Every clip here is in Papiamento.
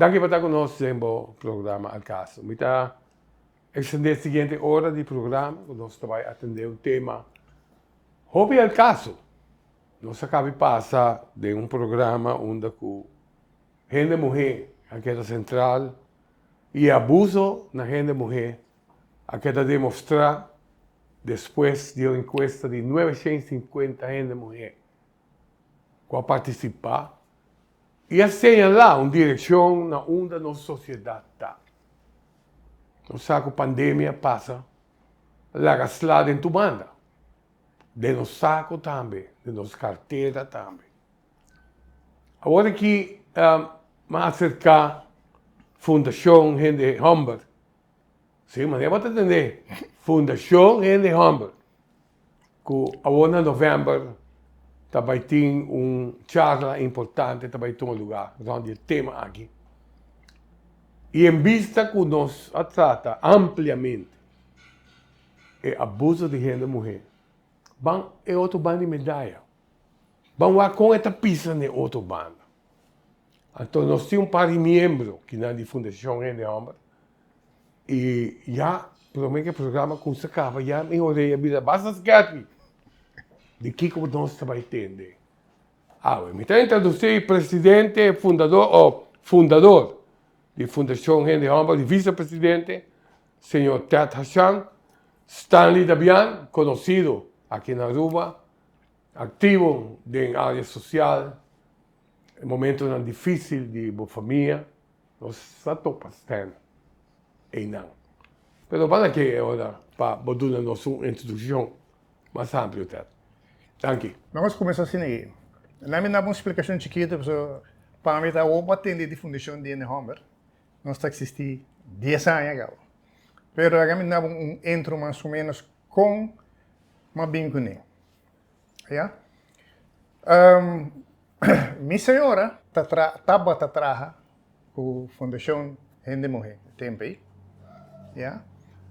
Danki pa ta ku nos den bo programa Al Caso. Mi ta ekstendé e siguiente ora di programa ku nos ta bai atendé un tema hopi al kaso. Nos a kabi pasa den un programa unda ku hende muhé a keda sentral. y abuso na hende muhé a keda demostrá despues di un encuesta di nueve shen sinkuenta hende muhé ku a partisipá y a señalá un direkshon na unda nos sosiedat ta. Nos sa ku pandemia pasa laga sla den tu banda, den nos sako tambe, den nos kartera tambe. Awor aki mi a acerca Fundacion Hende Humber. Si, manera bo ta tende, Fundacion Hende Humber, cu awor na november ta bay tin un charla importante, ta bay tuma lugar rond di e tema aki. Y en bista cu nos a trata ampliamente e abuso di hende muher, ban e otro banda di medaya. Ban wak kon e ta pisa na e otro banda. Anto nos tin un par di miembro ki nan di Fundacion Hende Homber i ya prome ku e programa kumsa kaba ya mi orea bisa, Basta skèpi! Di kiko bo nos ta bai tende? Awe, mi ta introdusí presidente fundadó, o fundador, di Fundacion Hende Homber, di visepresidente, señor Ted Hashan, Stanley Dabian, konosido aki na Aruba, Aktivo den área sosial, e momentonan difísil di bo famia nos ta topa stènt einan. Pero banda ke e ora pa bo duna nos un introdukshon mas amplio ter. Danki. Nos kuminsá asina ei. Laat mi daba un splikashon chikitu pasobra pa mi ta awor bo a tende di fundashon di ene hòmber. Nos ta eksistí dies aña kau. Pero laga mi daba un intro mas o ménos Kon m'a bin ku n'e? Ya. Mi señora ta traha, tabata traha ku Fundacion Hende Muhé tempu ei. Ya.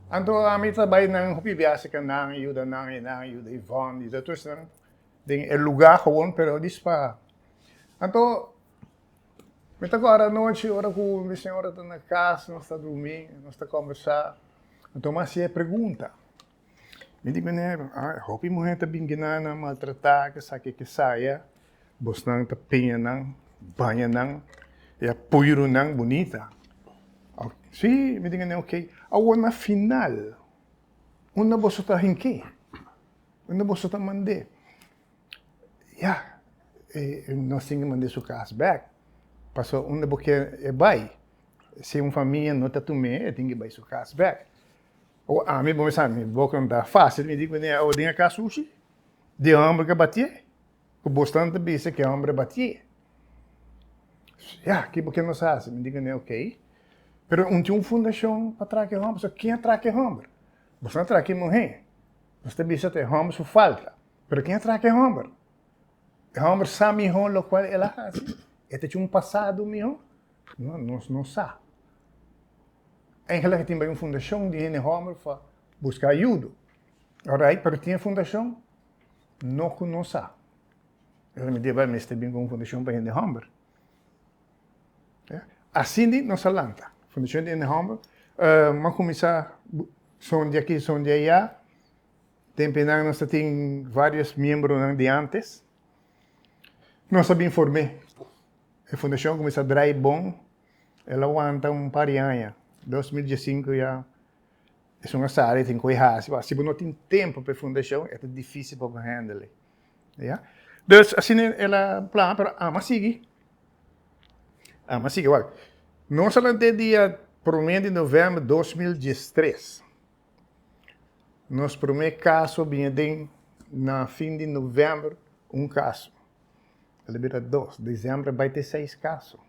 Anto ami ta bai nan hopi biaha serka nan i yuda nan, i nan i yuda Yvonne, yuda tur esnan den e lugá, gewoon, pero dispará. Anto. Mi ta kòrda anochi ora ku mi señora ta na kas, nos ta durmí, nos ta kòmbersá, mi tuma hasi e pregunta. Mi di kuné, Ah, e hopi muhé ta bin kina nan maltratá, kesaki e kesaya, bosnan ta peña nan, baña nan, i a pui runan bunita. Sí, mi di kuné, ok. Awor na final, unda boso ta hink'é? Unda boso ta mand'é? Ya, e nos tin ke manda e su kas bek, pasobra unda bo kier e bai, si un famia no ta tum'é, e tin ke bai su kas bek. O ami, bo mester sabi, mi bo konta, fásil mi di kuné, o den e kas sushi, di hòmber ke batié, ku bosnan ta bisa ke hòmber a batié. Ya, kiba ke nos a hasi? Mi di kuné, okey, pero mi tin un fundashon pa traka e hòmber, so ken a traka e hòmber? Bosnan a traka e muhé, nos ta bisa ta e hòmber su falta. Pero ken a traka e homber? E homber sa mihó lokual el a hasi? E ta cu un pasado mihó? No, nos no sa. Engelan a tin bai un fundacion di hende homber pa busca ayudo. Alright, pero tin e fundacion? No cu nos sa. Pero mi deba mester bin cu un fundacion pa hende homber. Asina nos a lanta fundacion di hende homber. M'a cuminsa son di aki, son di ayá. Tempenan nos ta tin varios miembronan di antes. Nos a bin form'é. E fundashon a kuminsá drai bon. El a wanta un par di aña. Dos mil diesinku ya esun a sali, e tin ku e hasi. B'a, si bo no tin tempu pa e fundashon, e ta difísil pa bo hèndel'é. Ya. Dus, asina el a plan, pero amo a sigui. Amo a sigui. Wak, nos a lant'é dia promé di novèmber dos mil diestres. Nos promé kaso bini den na fin di novèmber, un kaso. El a bira dos. Desèmber a bai te seis kaso.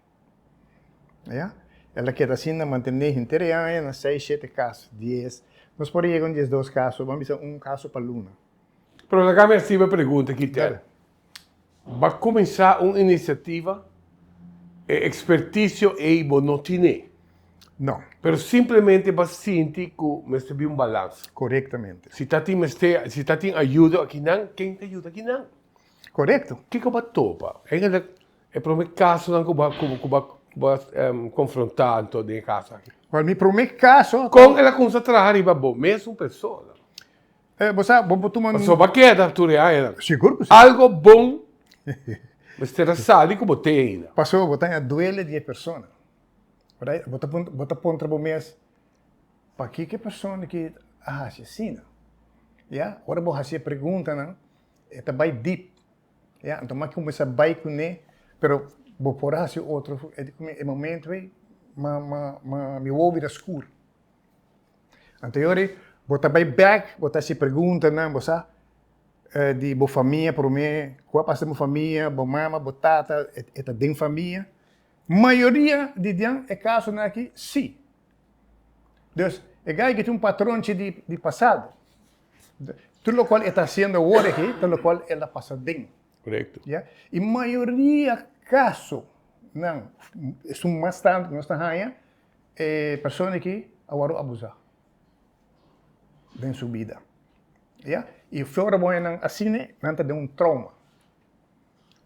Ya. El a keda asinda mantené henter e aña na seis, shete kaso, dies. Nos por a yega un diesdos kaso, bo a bisa un kaso pa luna. Pero laga mi a sibi e pregunta akí, Ted. Bo cuminsa un iniciativa, e experticio ey bo no tine. No. Pero simplemente bo sinti cu mester bin un balance. Correctamente. Si ta tin mester, si ta tin ayudo akinan, ken ta yuda kinan? Correcto. Kiko bo topa? Ey ta ser e prome casonan cu bo, cu bo, cu bo confronta anto den e casa aki? Wel, mi prome caso. Con el a cuminsa traha riba bo mes un persona? Eh, bo sa, bo por tuma un... Pasobra bo a keda tur e aña nan. Sigur ku si. Algo bon mester a sali ku bo tin ainda. Pasobra bo ta na duele di e persona. Right? Bo ta puntra, bo ta puntra bo mes, pakiko e persona di kit a hasi asina? Ya, ora bo hasi e preguntanan, e ta bai deep. Ya, anto m'a kuminsá bai kuné, pero bo por a hasi otro, e di kuminsa, e momentu ei, m'a, m'a, m'a, mi wou bira skur. Anteriori, bo ta bai bèk, bo ta hasi preguntanan, bo sa, di bo famia promé, ku a pasa den bo famia, bo mama, bo tata, e ta den famia? Mayoria di den e kasonan aki, sí. Dus, e gay aki ta un patronchi di pasado. Tur lokual e ta hasiendo awor aki, ta lokual el a pasa den. Korekto. Ya. I mayoria kasonan, esun mas tantu ku nos ta haña, E persona aki a wòrdu abusá den su bida, ya. I flor di boñanan asina nan ta den un trouma.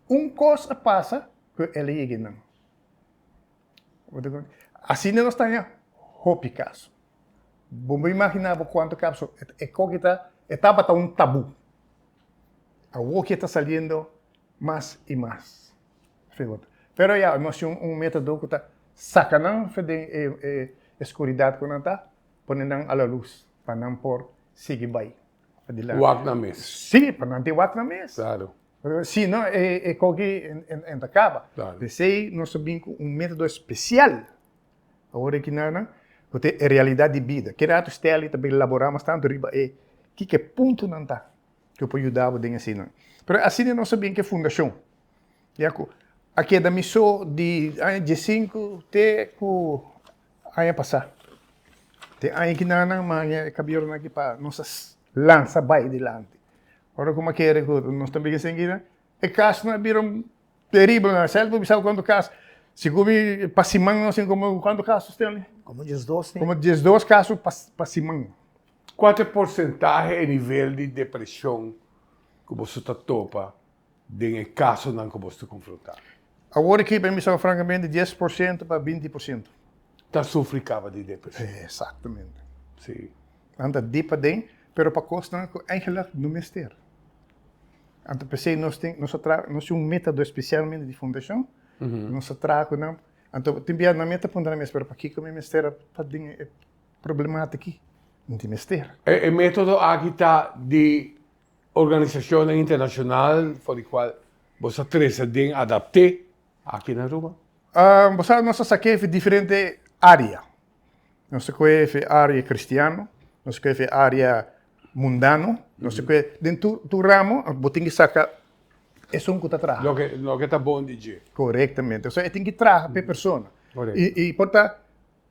Un kos a pasa ku e aliyegenan. Asina nos taña hopi kaso. Bo por imaginá bo kuantu kaso e koki ta, e tabata un tabú. Awoki e ta saliendo mas i mas. Figura. Pero ya, nos tin un metodo ku ta saka nan fu den e skuridat ku nan ta, pone nan a la lus pa nan por sigui bai adilanti. Wak na mes. Sí, pa nan tin wak na mes. Klaro. Si no e koki e ta kaba. Klaro. P'esei nos a bin ku un metodo spesial ora ki nan ku ta e realidat di bida. Keda atu Stanley ta bai laborá mas tantu riba e kiko e puntonan ta. cu por yuda bo den asinan. Pero asina nos a bin cu e fundacion, ya cu a keda mi so di aña dies sinku te cu aña pasa. Te aña ki na nan manga e cabior nan aki pa nos a lansa bay dilanti. Ora cu mi a kere cu nos tambe ken sigui nan, e cas nan a bira terribel nan. Self bo bisa cu cuantu cas, si cu mi pa siman nos tin como cuantu cas nos ten ali? Como dies dos, ne? Como dies dos cas pa siman. Kual ta e porsentahe e nivel di depreshon ku boso ta topa den e kasonan ku boso ta konfrontá? Awor aki pa mi sa frankamente dies por siento pa binti por siento. Ta sufri kaba di depreshon. Eksaktamente. Sí. Nan ta dip aden, pero pa kosnan ku eigentlik no mester. Anto p'esei nos tin, nos a traha, nos tin un meta do espesialmente di fundashon, nos a traha ku nan, anto tin bia nan mi a tapunta nan mes, pero pakiko mi mester a ta den e. problematiki no tin mester. E metodo aki ta di organisashonnan internashonal for di kual bo sa trese den adapte aki na Aruba? Bo sa nos ta sake fi diferente area. Nos ta koe fi area kristiano, nos ta koe fi area mundano, nos ta koe den tur ramo bo tin ki saka esun ku ta traha. Loke ta bon di dje. Korektamente. Osea e tin ki traha pa e persona. I por ta.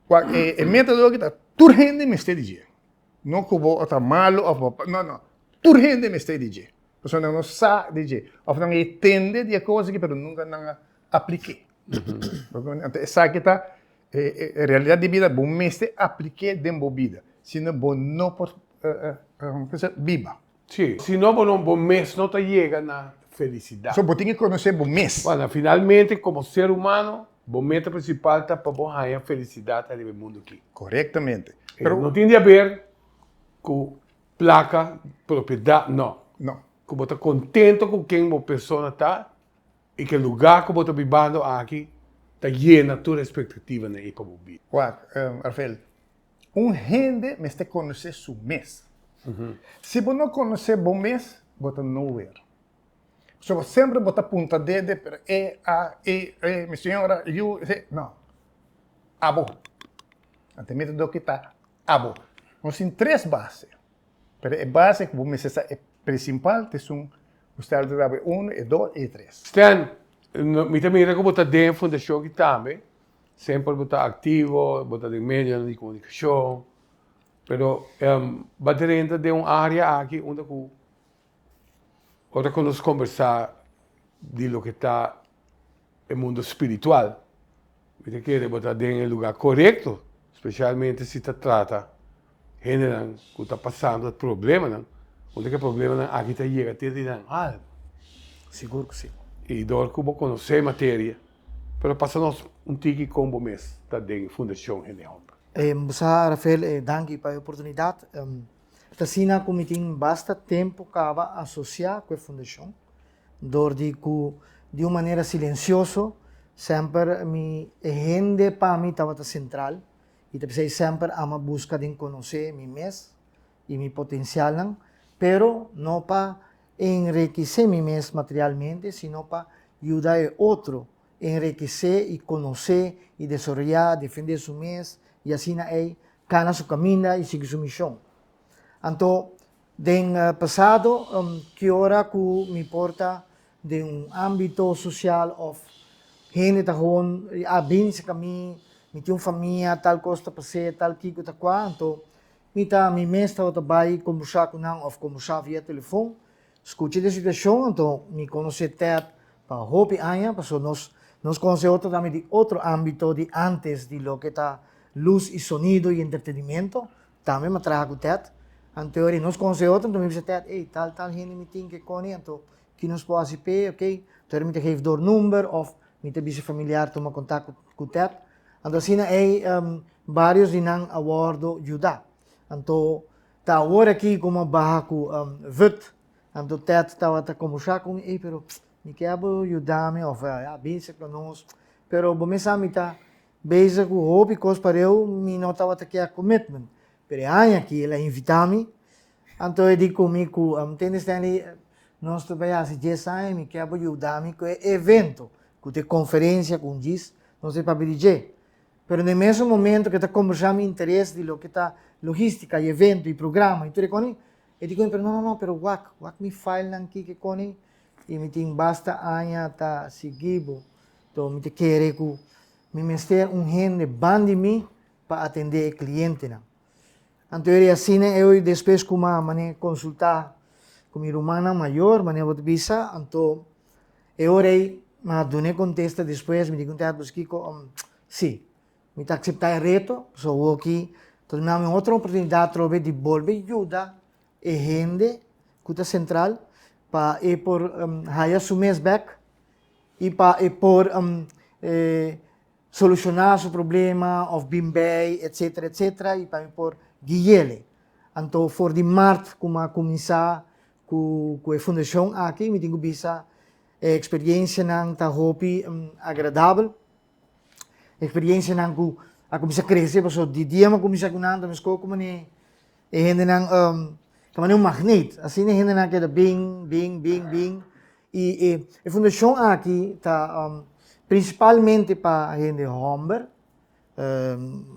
Kua e, e meta loke ta tur hende mester di dje. No ku bo ta malu òf bo, no, no. Tur hende mester di dje. Pasobra nan no sa di dje. Òf nan a etende di e kos aki pero nunka nan a aplik'é. Bo tuma? Anto esaki ta e, e, e realidat di bida, bo mester aplik'é den bo bida. Sino bo no por, kiko se, biba. Sí, si no bo no, bo mes no ta yega na felicidad. So bo tin ki conoce bo mes. Bueno, finalmente como ser humano, bo meta principal ta pa bo haya felicidad ariba e mundo aki. Correctamente. Pero no tin di haber cu placa, propiedad, no. No. Cu bo ta contento cu ken bo persona ta y cu e lugar cu bo ta bibando aki ta yena tur expectativanan ey pa bo vida. Wak, Rafael. Un hende mester conoce su mes. Si bo no conoce bo mes, bo ta nowhere. So, semper bo ta punta dede, pero e, a, i, e, mi señora, yu, e, no. Abo. Ante mi ta dor ki ta abo. Nos tin tres base, pero e base cu bo mester sa e principal ta esun cu stay altid abo, e uno, e dos y e tres. Stan, mi ta mira cu bo ta den fundacion aki tambe. Semper bo ta aktivo, bo ta den medionan di komunikashon. Pero bo ta renta den un área aki unda ku ora ku nos kombersá di loke ta e mundu spiritual, mi ta kere bo ta den e lugá korekto, spesialmente si ta trata hendenan ku ta pasando problemanan, unda ku e problemanan aki ta yega te di nan algu. Sigur ku si. I dor ku bo konosé e materia. Pero pasa nos un tiki con bo mes ta den Fundacion Hende Homber. Bo sa Rafael, danki pa e oportunidad. Ta asina cu mi tin basta tempo caba asocia cu e fundacion, door di cu di un manera silencioso semper mi e hende pa mi tabata central y ta bisa y semper ama busca den conoce mi mes i mi potensialnan, pero no pa enrikesé mi mes materialmente, sino pa yuda e otro enrikesé i konosé i desaroyá, defendé su mes i asina ei kana su kaminda i sigui su mishon. Anto, den pasado, ki ora ku mi por ta den un ámbito sosial òf hende ta hon a binse ka mi, mi tin un famia, tal kos ta pas'é, tal kiko ta kua, anto Mi ta, mi mes tabata bai kombursá ku nan òf kombursá via telefòn. Skucha di e situashon, anto mi konosé Ted pa hopi aña, pasó nos nos konosé otro tambe di otro ámbito di ántes di loke ta lus i sonido i entretenimento. Tambe mi a traha ku Ted. Anto ori nos konosé otro, anto mi a bisa Ted, ey, tal tal hende mi tin ke kòne, anto ki nos por hasi p'e, oke. Anto ori mi ta geve dor number òf mi ta bisa e familiar tuma kontak ku Ted. Anto asina ei um, barios di nan a wordo yuda. Anto ta awor aki como a baha cu um, vut. Anto Ted tabata comusa cu mi, ei, pero mi ke abo yuda mi of uh, ya binse con nos. Pero bo me sa mi ta bezig cu hopi cos pareu mi no tabata ke a commitment. Pero e aña aki el a invita mi Anto e di ku mi ku Teni Stanley nos ta bai hasi djes aña, mi ke bo yuda mi ku e evento, ku ta e konferensia ku un djis, nos ta papia di dje. Pero na e mesun momento ke ta kombersá mi interes di loke ta logístika i evento i programa i tur e koni, e di ku mi, pero no no no, pero wak, wak mi filenan ki ke koni i mi tin basta aña ta sigui bo, to mi ta kere ku mi mester un hende ban di mi pa atendé e klientenan. Anto eri asina eu despues ku ma mane konsultá ku mi rumannan mayor mane bo ta bisa anto e ora ei mi a dun'é kontesta despues mi digunta e'at, Pues Kiko, si, mi ta akseptá e reto, pasobra awoki ta duna mi otro oportunidat atrobe di bolbe yuda e hende ku ta sentral pa e por haya su mes bèk i pa e por. Solushoná su problema òf bin bai etsetera etsetera i pa mi por gui'éle. Anto for di mart ku mi a kuminsá ku ku e fundashon aki mi tin ku bisa e eksperiensianan ta hopi agradabel. Eksperiensianan ku a kuminsá krese pasobra di dia mi a kuminsá ku nan ta meskor ku manera e hendenan ta manera un magnet. Asina e hendenan a keda bin bin bin bin. I e fundashon aki ta prinsipalmente pa hende hòmber,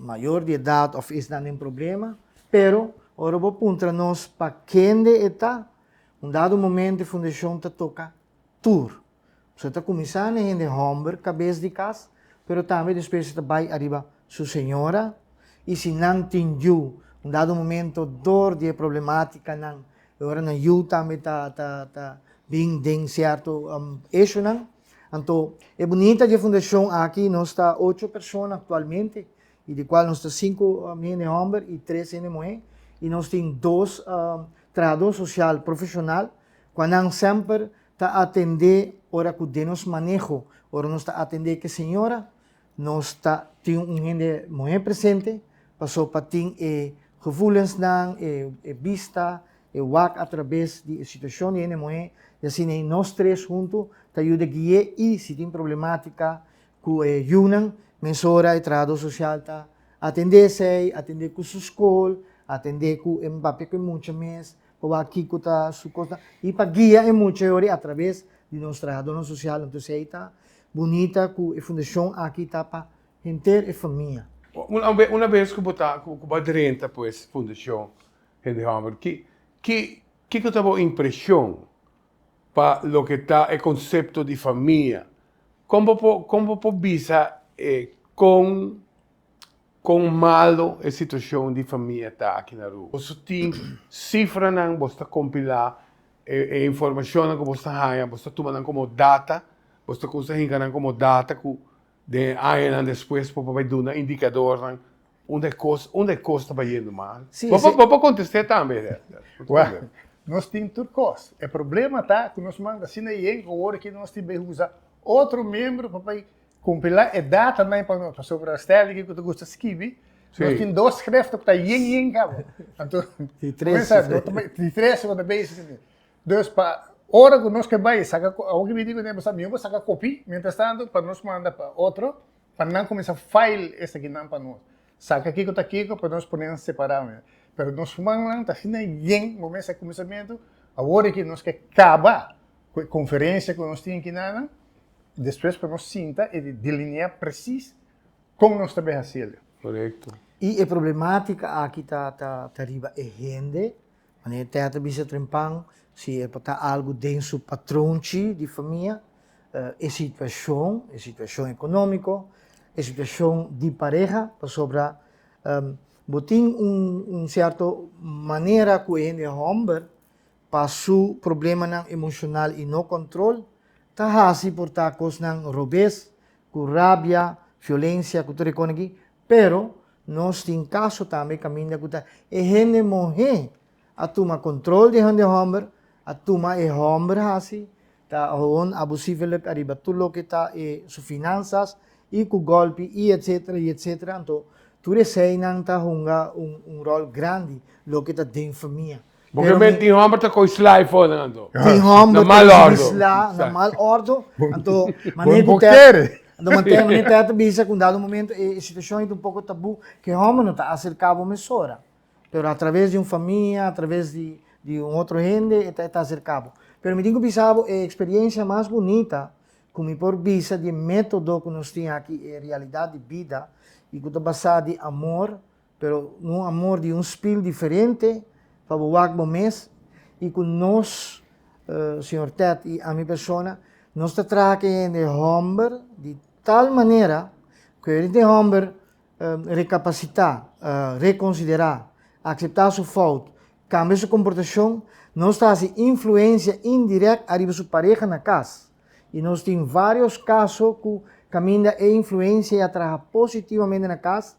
mayor di edat òf esnan den problema. Pero ora bo puntra nos pa kende e ta, un dado momento e fundashon ta toka tur. So e ta kuminsá na e hende hòmber, kabes di kas, pero tambe despues e ta bai ariba su señora. I si nan tin yu un dado momento dor di e problemátikanan E ora nan yu tambe ta ta ta bin den cierto um eshunan. Anto e bunita dje fundacion aki nos ta ocho persona actualmente y di cual nos ta cinco um hende homber y tres hende muhe y nos tin dos um trahador social profesional cua nan semper ta atende ora cu den nos maneho ora nos ta atende ki señora Nos ta tin un hende muhé presente pasobra pa tin e gevoelensnan, e bista, e wak atrabes di e situacion di hende muhé i asina ei nos tres huntu ta yuda gui'é i si tin problematica cu e yunan mesora e trahador social ta atendé esei, atendé cu su scol, atendé cu e papia cu e mucha mes pa wak kico ta su cosnan i pa guia e mucha a trabes di nos trahadornan social. Entonces ei ta bunita cu e fundacion aki ta pa henter e famia. Una bes cu bo ta, cu bo a drenta pues Fundacion Hende Homer, ki, ki, kico ta bo impresion pa loke ta e concepto di famia? Con bo por, con bo por bisa e con. Kon malo e situashon di famia ta aki na Aruba? Bo su tin sifranan, bo ta kompilá e informashonnan ku bo ta haña, bo ta tuma nan komo data, bo ta kusa hinka nan komo data ku den e añanan despues bo por bai duna indikadornan unda e kos, unda e kos ta bai yendo mal? Bo por kontest'é tambe, Herder. Wèl, nos tin tur kos. E problema ta ku nos manda asina yen ku awor aki nos tin bai usa otro miembro pa bai Compila e data nan pa nos, pasobra Sterling e cu ta gusta skibi, nos tin dos schriften cu ta yen yen cabo. Anto, Di tres schriften. Di tres schriften cu ta bezig sceti. Dus, pa ora cu nos ke bay saca, awo ke bini cu tin e basa, mi bo saca copy, mientras tanto, pa nos manda pa otro, pa nan cuminsa file esaki nan pa nos. Saca kico ta kico pa nos ponen separado nan. Pero nos human nan ta asina yen, bo mester cuminsamentu, awor aki nos ke caba cu e conferencia cu nos tin aki nan, Despues pa nos sinta y delinea presis con nos ta beha hacielo. Corecto. Y e problematica aki ta ta riba e hende, manera Ted ta bisa trempan, si e por ta algo den su patronchi di famia, e situacion, e situacion economico, e situacion di pareha, pasobra bo tin un un cierto manera cu e hende homber pa su problemanan emocional y no control Ta hasi por ta kosnan robes, ku rabia, fiolensia, ku tur e kosnan aki, pero nos tin kaso tambe kaminda ku ta e hende muhé a tuma kontrol di hende hòmber, a tuma e hòmber hasi, ta hòn abusivelik ariba tur loke ta e su finansas, i ku gòlpi, i etsetera, i etsetera. Anto tur eseinan ta hunga un ròl grandi loke ta den famia. Porque Pero men mi- tin homber ta coi sly for nan anto. Tin homber Na mal ordo. Isla, na mal ordo. Anto, mané Bo- bo ku kere. tèt. Anto mantè mané tèt ta bisa ku un dado momento e e situashon yeta un poko tabú ku e homber no ta aserká bo mesora. Pero atraves di un famia, atraves di di un otro hende e ta e ta aserká bo. Pero mi tin ku bisa bo e eksperiensia mas bunita ku mi por bisa di e método ku nos tin aki e realidat di bida i ku ta basá di amor, Pero un amor di un spil diferente pa bo wak bo mes y cu nos, uh, Señor Ted y ami persona, nos ta traha cu e hende homber di tal manera cu e hende homber, uh, recapacita, uh, reconsidera, acepta su fout, cambia su comportacion, nos ta haci influencia indirect ariba su pareha na cas. I nos tin vários kaso ku kaminda e influensia ya traha positivamente na kas,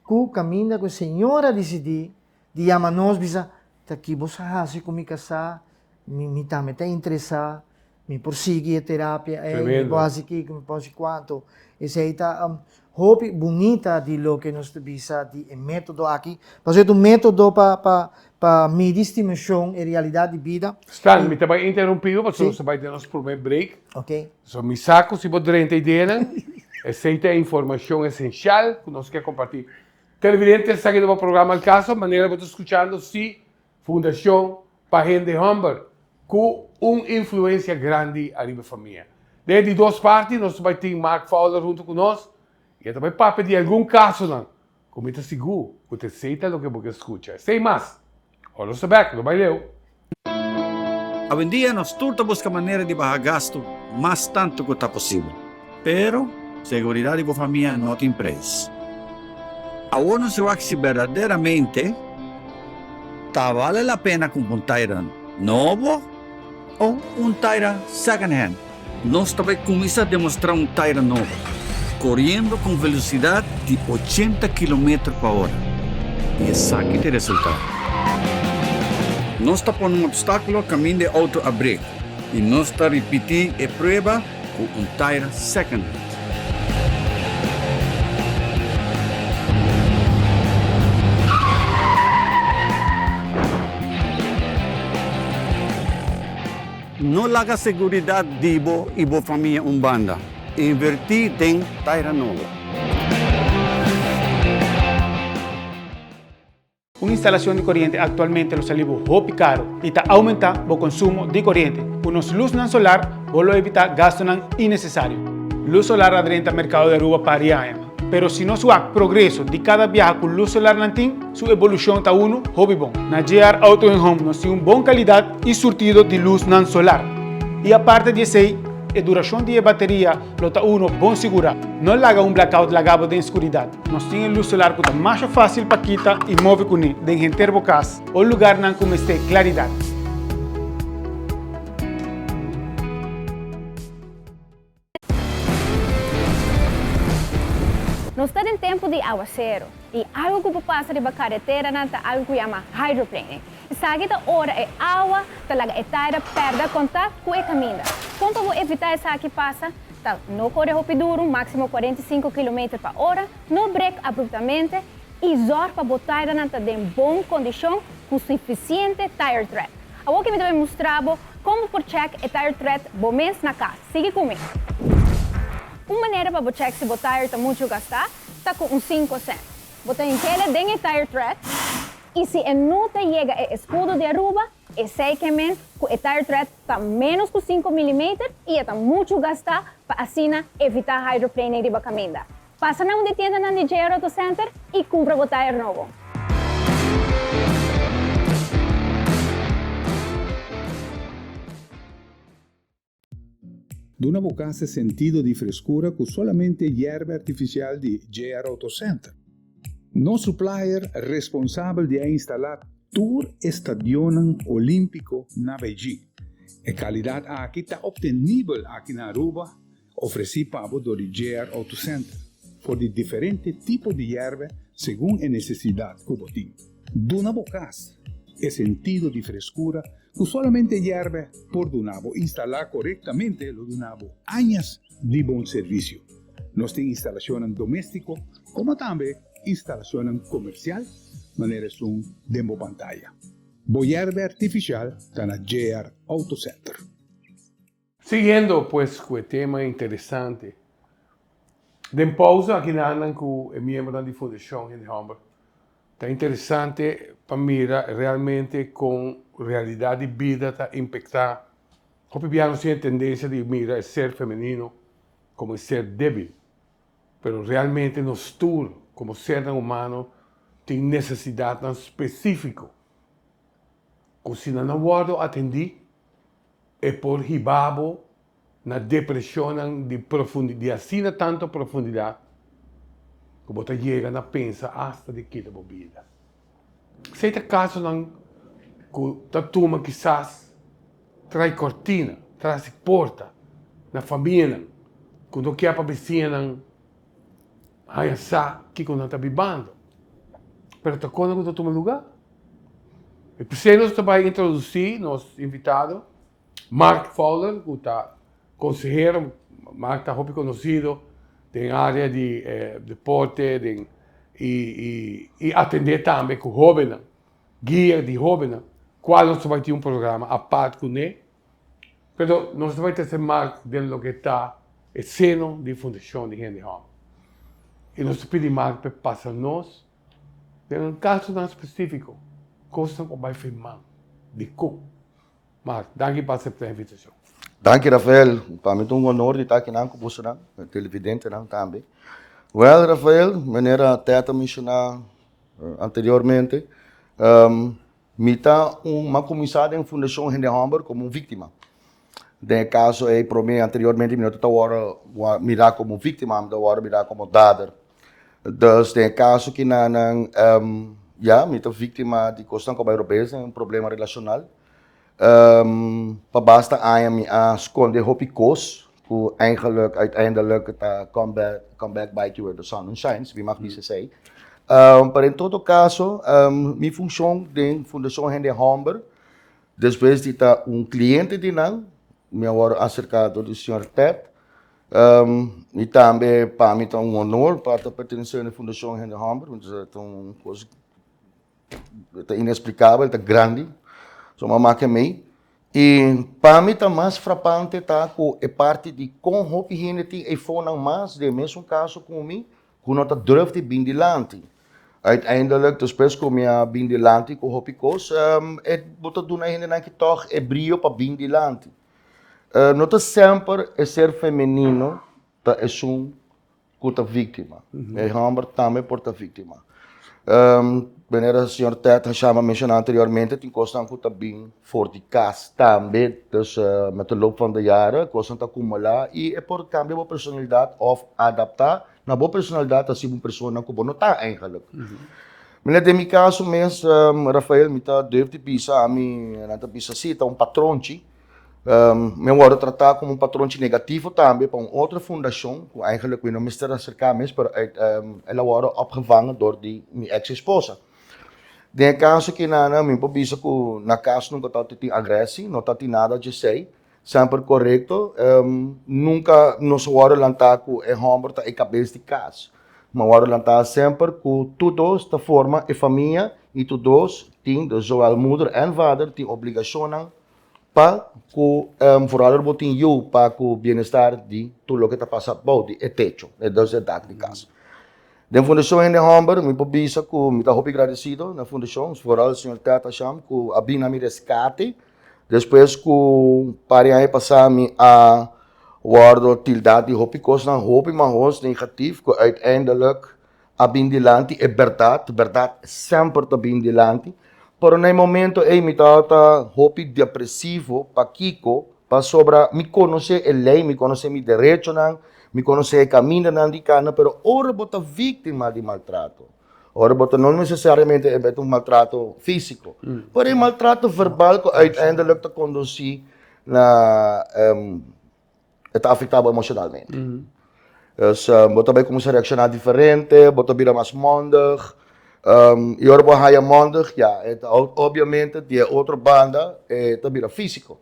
ku kaminda ku e señora disidí di yama nos bisa, Ta ki bo sa hasi ku mi kasá? Mi mi tambe ta interesá, mi por sigui e terapia ei, mi por hasi kiko, mi por hasi kuantu. Esei ta. hopi bunita di loke nos ta bisa di e método aki. Pasobra et un método pa, pa, pa midi stimacion e realidad di bida. Stan, mi ta bai interumpibo pasobra nos ta bai den nos prome break. Oké. So, mi sa cu si bo drenta ideanan, esey ta e informacion esencial cu nos ke comparti. Televidente, esaki ta bo programa El Caso, manera bo ta scuchando, si. Fundacion pa hende humber cu un influencia grandi ariba e famia. Den di dos parti nos ta bay tin Mark Fowler hunto cu nos y e ta bay papia di algun casonan cu mi ta sigur cu ta esey ta loke bo ke scucha. Esey mas, ora nos ta bek, lo bay leu. Awendia nos tur ta busca manera di baha gastu mas tanto cu ta posibel. Pero, seguridat di bo famia no tin prijs. Awor nos a wak si berdaderamente ta bale la pena kumpa un taira nobo o un taira second hand. Nos ta bai kuminsá demostrá un taira nobo koriendo ku un velosidad di ochenta kilometer pa ora, i esaki ta e resultado. Nos ta pone un obstákulo kaminda e outo a brek i nos ta ripití e prueba. cu un tire second hit. No laga seguridad di bo y bo famia un banda. Inverti den tire nobo. Un instalacion di coriente actualmente lo sali bo hopi caro y ta aumenta bo consumo di coriente. Cu nos luznan solar bo lo evita gastonan innecesario. Luz solar a drenta mercado di Aruba par di aña, pero si nos wak progreso di cada biaha cu luz solar nan tin, su evolucion ta uno hopi bon. Na JR Auto en Home nos tin un bon calidad y surtido di luznan solar. Y aparte di esey, e duracion di e bateria lo ta uno bon sigura. No laga un blackout laga bo den scuridad. Nos tin e lus solar cu ta masha facil pa kita y move cune den henter bo cas o lugarnan cu mester claridad. Nos ta den tempo di aguacero y algo cu por pasa riba carreteranan ta algo cu yama hydroplane. Esaki ta ora e awa ta laga e tayra perda contact cu e caminda. Con pa bo evita esaki pasa? Ta no kore hopi duru, máksimo kuarenta i sinku kilometer pa ora, no brek abruptamente i zòrg pa bo tairanan ta den bon kondishon ku sufisiente tire tread. Awoke mi ta bai mustra bo kon bo por chèk e tire tread bo mes na kas. Sigui ku mi. Un manera pa bo chèk si bo tire ta muchu gastá ta ku un sinku sènt. Bo ta inhela den e tire tread i si e no ta yega e eskudo di Aruba, Esei ke men ku e tire tread ta ménos ku sinku milimeter i e ta muchu gastá pa asina evitá hydroplaning riba kaminda. Pasa na un di tiendanan di JR Auto Center i kumpra bo tire nobo. Duna bo casa sentido di frescura cu solamente yerba artificial di JR Auto Center. Nos supplier responsabel di a instala tur e stadionnan Olimpico na Beijing. E calidad aki ta obtenibel aki na Aruba, ofreci pa bo dor di JR Auto Center, for di diferente tipo di yerba segun e necesidad cu bo tin. Duna bo kas e sentido di freskura ku solamente yèrbè por duna bo. Instalá korektamente lo duna bo añas di bon servisio. Nos tin instalashonnan doméstiko komo tambe instalashonnan komersial manera esun den bo pantaya. Bo yèrbè artifishal ta na JR Auto Center. Siguiendo pues cu e tema interesante, den pausa akinandan cu e miembronan di Fundacion Hende Homber ta interesante pa mira realmente con realidad di bida ta impecta, hopi bia nos tin e tendencia di mira e ser femenino como e ser debil, pero realmente nos tur como sernan humano tin necesidadnan specifico cu si nan a wordo atendi E por hiba bo na depresionnan di profundi di asina tantu profundidat ku bo ta yega na pensa asta di kita bo bida. Esei ta kasonan ku ta tuma kisas tras kortina, tras di porta, na famianan ku no kier pa bisiñanan. Haya sa kiko nan ta bibando, pero ta kona ku ta tuma lugá. I p'esei nos ta bai introdusí nos invitado, Mark Fowler, ku ta konsehero. Mark ta hopi konosido den área di deporte den i atendé tambe ku hóbennan, guia di hóbennan, kual nos ta bai tin un programa apart kuné. Pero nos no bai ta hasi mak den loke ta e seno di e fundashon di hende hòmber. I nos ta pidi mak pa e pasa nos den kasonan spesífiko kosnan ku bai firmá. Dikó? Mak, danki pa aseptá e invitashon. Danki Rafael. Pa mi ta un onor di ta akinan ku bosonan, e televidentenan tambe. Wèl, Rafael, manera Ted a menshoná anteriormente, Mi ta un mi a kuminsá den Fundashon Hende Hòmber komo un víktima. Den e kaso ei promé anteriormente mi no ta wòrdu mirá komo víktima, mi ta wòrdu mirá komo dader. Dus den e kaso kinanan ya mi ta víktima di kosnan ku a bai robes den un problema relashonal. Pa basta aña mi a skondé hopi kos. Ku eingeluk, uiteindelijk, ta comeback, come back bite you where the sun don't shine, wie mag bisa esei. Pero en todo caso, mi funcion den Fundacion Hende Homber, despues di ta un cliente di nan, mi a wòrdu acercado di señor Ted. Y tambe pa mi ta un honor pa ta pertenecer den Fundacion Hende Homber, ta un cos. Ta inexplikabel, ta grandi. So mi a mak e mei. I pa mi ta mas frapante ta ku e parti di kon hopi hende tin e fonnan mas den e mesun kaso ku mi ku no ta durf di bin dilanti. Uiteindelik, despues ku mi a bin dilanti ku hopi kos, bo ta duna e hendenan ki tòg e brio pa bin dilanti. No ta semper e ser femenino ta esun ku ta víktima. E hòmber tambe por ta víktima. Manera señor Ted a shama menshona anteriormente tin kosnan ku ta bin for di kas tambe. Dus met e lop van de jaren kosnan ta akumulá i e por kambia bo personalidat òf adaptá na bo personalidat hasi bo un persona ku bo no ta eingelik. Manera den mi kaso mes, Rafael mi ta durf di bisa, ami nan ta bisa sí ta un patronchi. Mi a wòrdu tratá komo un patronchi negativo tambe pa un otro fundashon ku eigenlijk mi no mester aserká mes pero el a wòrdu opgevanga dor di mi eks esposa. Den e kaso kinana mi por bisa ku na kas nunka tabata tin agresi, no ta tin nada dj'esei, semper korekto, nunka nos a wòrdu lantá ku e hòmber ta e kabes di kas, mi a wòrdu lantá semper ku tur dos ta forma e famia i tur dos tin, dus zowel moeder en vader, tin obligashonnan pa ku vooral bo tin yu pa ku bienestar di tur loke ta pasa bou di e techo, e dos e dak di kas. Den Fundashon Hende Hòmber mi por bisa ku mi ta hopi gradesido na fundashon, vooral señor Ted Asham ku a bini na mi reskate despues ku un par di aña pasá mi a wòrdu tildá di hopi kosnan hopi mahos negativ ku uiteindelik a bin dilanti, e bèrdat, bèrdat semper ta bin dilanti, pero na e momento ei mi tabata hopi depresivo, pakiko? Pasobra mi konosé e lei, mi konosé mi derechonan, mi konosé e kamindanan di kanda, pero ora bo ta víktima di maltrato, ora bo ta no nesesariamente e ta un maltrato físiko, pero e maltrato verbal ku uiteindelik ta kondusí na. e ta afektá bo emoshonalmente. Dus bo ta bai kuminsá reakshoná diferente, bo ta bira mas mondig, i ora bo haña mondig, ya, e ta obiamente di e otro banda e ta bira físiko.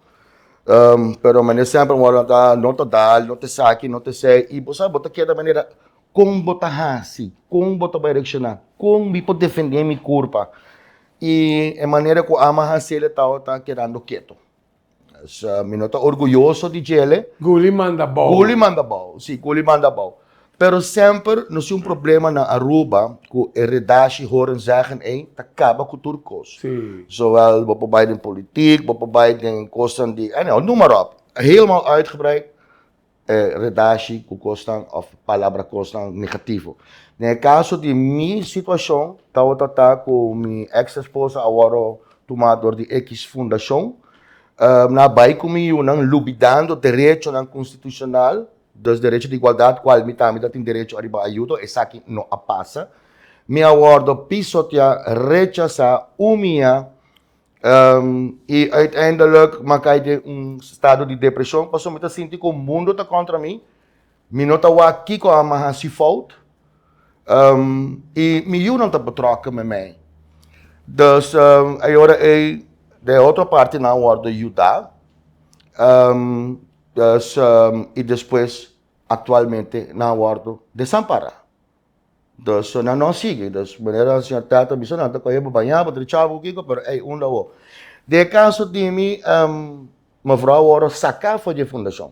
Pero mane sèmpel bo a nota no ta dal, no ta esaki, no ta esei, i bo sa bo ta keda manera kon bo ta hasi, kon bo ta bai reakshoná, kon mi por defendé mi kurpa, i e manera ku ama hase'l e tabata kedando keto. So, mi no ta orguyoso di djele. Gully manda bou. Gully manda bou, si, Gully manda bou. Pero semper nos tin un problema na Aruba cu e redashi horen zeggen ey ta caba cu tur cos. Si. Zowel bo por bay den politiek, bo por bay den cosnan di, anyhow, noem maar op. Helemaal uitgebreid. e redashi ku kosnan òf palabra kosnan negativo. Den e kaso di mi situashon, tabata ta ku mi eks esposa a wòrdu tumá dor di ekiz fundashon. Nan a bai ku mi yunan lubidando derechonan konstitushonal, dus derecho di igualdat, kual mi tambe ta tin derecho ariba ayudo, esaki no a pasa. Mi a wòrdu pisoteá, rechasá, umiá i uiteindelijk m'a cay den un estado di depresion pasobra mi ta sinti cu mundo ta contra mi, mi no ta wak kico a mi haci fout, i mi yunan ta betrokken met mij. Dus e ora ey de otro partenan worde yuda, i despues actualmente nan worde desampara. Dos so nan no sigui, dos manera nan señor tata bisa nan ta coge bo baña bo trichao bo kico, pero ey un lo bo. De caso di mi um, mevrouw word saca for di fundacion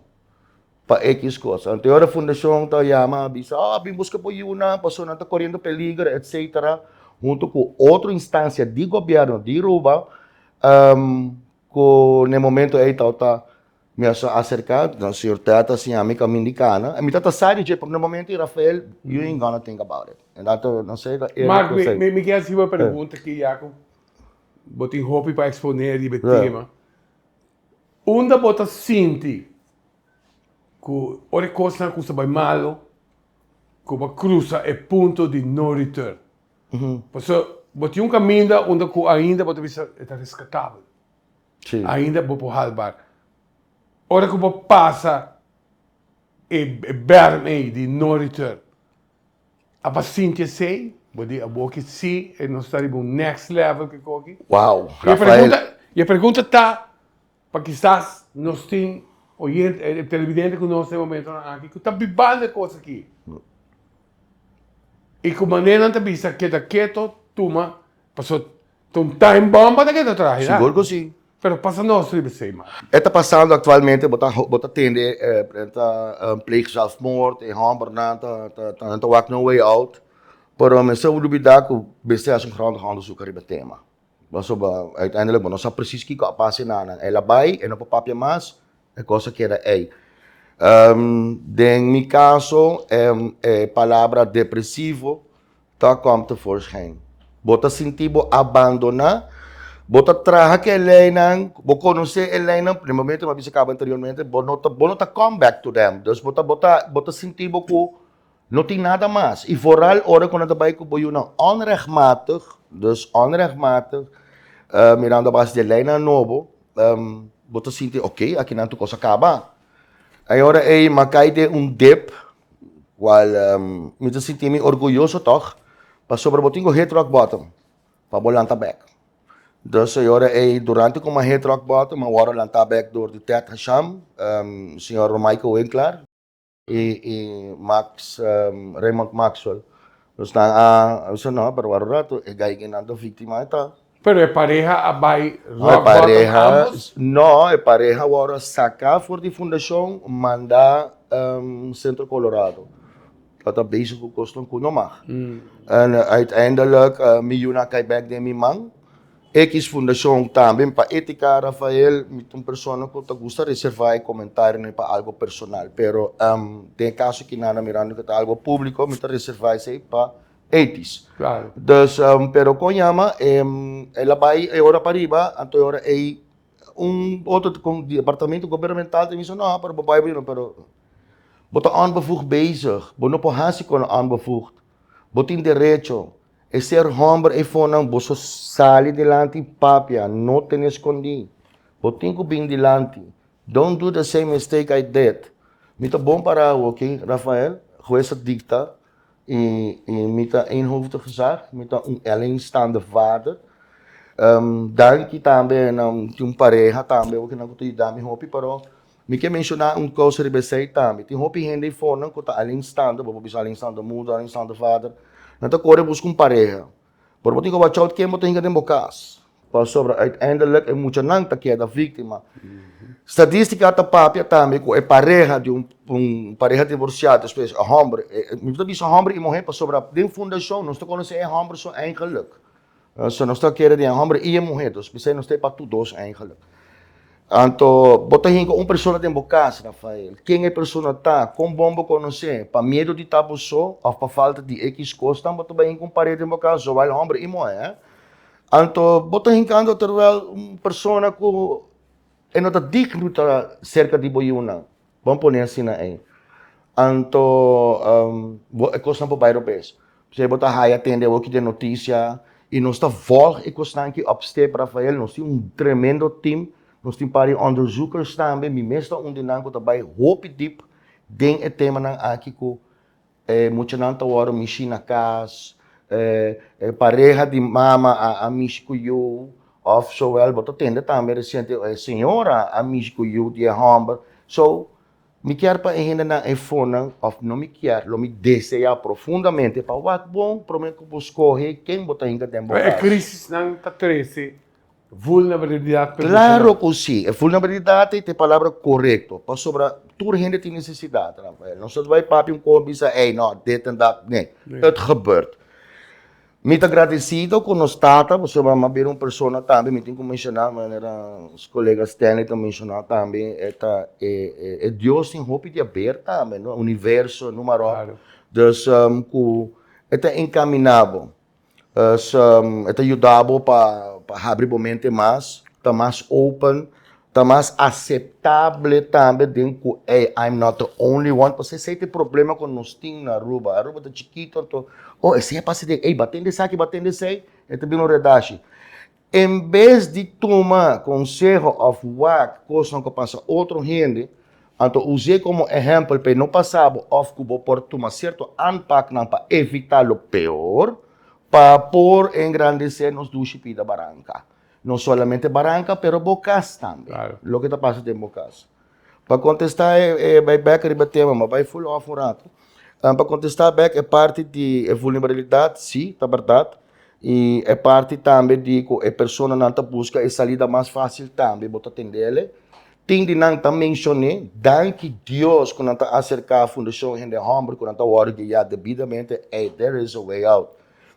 pa X cosa. Ante ora fundacion ta yama a bisa, oh, bin busca bo yunan, paso nan ta coriendo peligro, etcetera, hunto cu otro instancia di gobierno di Aruba um, cu n'e momento ey tawata Mi a sa aserka, den señor Ted ta siña mi kamin di kana, mi ta ta sa di dje, pero na momento i Rafael, you ain't gonna think about it, en dat ta no se ta e Mark, mi konsei. mi kier hasibo e pregunta aki ya ku bo tin hopi pa eksponé riba e tema. Unda bo ta sinti ku ora e kosnan kumsa bai malu, ku bo a krusa e punto di no return? Pasobra bo tin un kaminda unda ku ainda bo ta bisa e ta reskatabel. Sí. Ainda bo por halbar. Ora cu bo pasa e berm ey di no return, a pa sinti esey? Bo di abo ki si, e nos ta riba un next level ki cogi. Wow, Y e Rafael. pregunta, y e pregunta ta, pa kisas nos tin oyente, eh, televidente cu nos ta e momentonan aki, cu ta bibando e cos aki, y cu manera nan ta bisa keda keto, tuma, pasobra Ta un time bomba ta keda traha ya. Sigur ku si. Pero pasa nos riba esei man. E ta pasando aktualmente bo ta bo ta tende e e ta pleeg zelfmoord e hòmbernan ta ta ta nan ta wak no way out pero men sa olibida ku men sti hasi un grondig onderzoek ariba e tema pasobra uiteindelik bo no sa presis kiko a pasa e nannan el a bai e no por papia mas E kos a keda ei. Den mi kaso e palabra depresivo ta kom tevoorschijn. Bo ta sinti bo abandoná. Bo ta traha ku e leinan, bo konosé e leinan primeramente, kòm a bisa kaba anteriormente, bo no ta kòm bèk tu dem. Dus bo ta sinti bo ku. No tin nada mas. I vooral ora ku nan ta bai ku bo yunan onrechtmatig, dus onrechtmatig, mirando a base di e leinan nobo, bo ta sinti ok, akinan tur kos a kaba. E ora ei mi a kai den un dip, kual mi ta sinti mi orguyoso tòg, pasobra bo tin ku hit rock bottom pa bo lanta bek. Dus e ora ei, durante ku mi a hit rock bottom, mi a wòrdu lantá bek dor di Ted Hasham, señor Michael Winklar, Y y Max Raymond Maxwell nos nan a bisa no pero waro rato e gaiga nan ta victima e ta. Pero e pareha a bai rock bottom ambos? No e pareha wou a saca for di fundacion manda Centro Colorado lo ta bezig cu cos nan cu no mag en uiteindelik mi yu nan cai bek den mi man. Ex Fundashon tambe pa e tika Rafael mi ta un persona ku ta gusta reservá e komentarionan pa algu personal pero den e kaso aki Nana Miranda ku ta algu públiko mi ta reservá esei pa etis dus pero kon yama el a bai e ora pariba anto e ora ei un otro di departamento gobernamental ta bisa no pero bo bai bo yunnan pero bo ta onbevoegd bezig bo no por hasi kon onbevoegd bo tin derecho. E ser homber ei fonan boso sali dilanti papia no tene escondi bo tin cu bin dilanti don't do the same mistake I did mi ta bon para awo ok Rafael hues ta dicta y y mi ta eenhoofdig gezag mi ta un alleenstaande vader danki tambe na tin un pareha tambe oke nan cu ta yudami hopi pero Mi ke menshoná un kous riba esei tambe. Tin hopi hende ei fornan ku ta alinstando, bo por bisa alinstando moeder, alinstando vader, nan ta kore buska un pareha. Pero bo tin ku wachá out ken bo ta hinka den bo kas, pasobra uiteindelik e muchanan ta keda víktima. Statístika a ta papia tambe ku e pareha di un un pareha divorsiado, espesie e hòmber, mi ta bisa hòmber i muhé pasobra den fundashon nos ta konosé e hòmber su eigenlik. So nos ta kere di e homber i e muher dos, bisai nos ta e pa tur dos eigenlik. Anto bo ta hinka un persona den bo kas, Rafael, ken e persona ta, kon bon bo konos'é, pa miedu di ta bo so òf pa falta di ekiz kosnan bo ta bai hinka un paret den bo kas, zowel homber i muher, eh? Anto bo ta hinka anto terwel un persona ku e no ta digno ta serka di bo yunan. Bon pone asina ei. Anto e kosnan por bai robes. P'esei bo ta haya tende awoki den notisia i nos ta vòlg e kosnan aki òpstep, Rafael. Nos tin un tremendo tim. Nos tin un par di ònderzùkers tambe. Mi mes ta un di nan ku ta bai hopi dip den e temanan aki ku. E muchanan ta wòrdu mishi na kas, e pareha di mama a mishi ku yu, òf sowel bo ta tende tambe resiente e señora a mishi ku yu di e hòmber. So, mi kier pa e hendenan efonan, òf no mi kier, lo mi deseá profundamente pa wak bon promé ku bo skohe ken bo ta hinka den bo kas. E krisisnan ta trese Vulnerabilidad personal. Claro cu si. E vulnerabilidad ta e palabra corecto. Pasobra tur hende tin necesidad, Rafael. Nos ta bai papia un compi y sa, ey, no, dit en dat. Nee. Het gebeurt. Mi ta agradecido cu nos tata, pasobra mi a bira un persona tambe, mi tin cu menciona, manera nos colega Stanley ta menciona tambe, e ta e, e, e Dios tin hopi di haber tambe, no? Universo, numa ròk. Claro. Dus, cu e ta encamina bo. Pues, e ta yuda bo pa habri bo mente mas, ta mas open, ta mas aseptable tambe den ku ey, I'm not the only one, pasobra esei ta e problema ku nos tin na Aruba, Aruba ta chikito anto, oh esei a pasa den ey, batende esaki, batende esei, e ta bini un redashi. En bes di tuma konseho òf wak kosnan ku pasa otro hende, anto us'é komo ehèmpel pa e no pasa bo òf ku bo por tuma sierto aanpaknan pa evitá lo peor pa por engrandesé nos dushi pida baranka. No solamente baranka pero bo kas tambe, loke ta pasa den bo kas. Pa kontestá e bai bèk riba e tema, mi a bai ful òf un ratu. Pa kontestá bèk e parti di e vulnerabilidat, si, ta bèrdat, i e parti tambe di ku e personanan ta buska e salida mas fásil tambe bo ta tendele. Tin di nan ta menshoné, danki Dios ku nan ta aserká Fundashon Hende Hòmber ku nan ta wòrdu guiá debidamente, ey, there is a way out.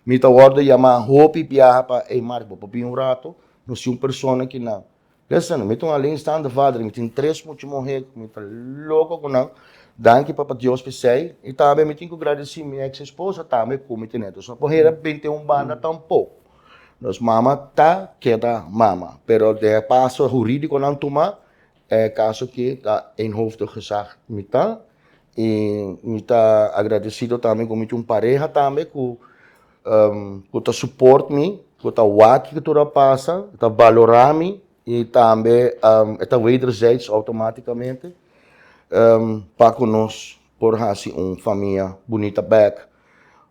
Mi ta wòrdu yamá hopi biaha pa, ey Mark, bo por bin un ratu? Nos tin un persona kinan Listen, mi ta un alleenstaande vader, mi tin tres mucha muhé ku mi ta loko ku nan, danki Papa Dios pa esei, i tambe mi tin ku gradesí mi eks esposa tambe ku mi ten'é. Nos no por hera bent'é un banda tampok. Nos mama ta keda mama, pero den e paso hurídiko ku nan tuma, e kaso ki ta eenhoofdig gezag mi ta, i mi ta agradesido tambe ku mi tin un pareha tambe ku, ku ta support mi, ku ta wak ke tur a pasa, e ta balorá mi i tambe e ta wederzijds outomaticamente pa ku nos por hasi un famia bunita bek.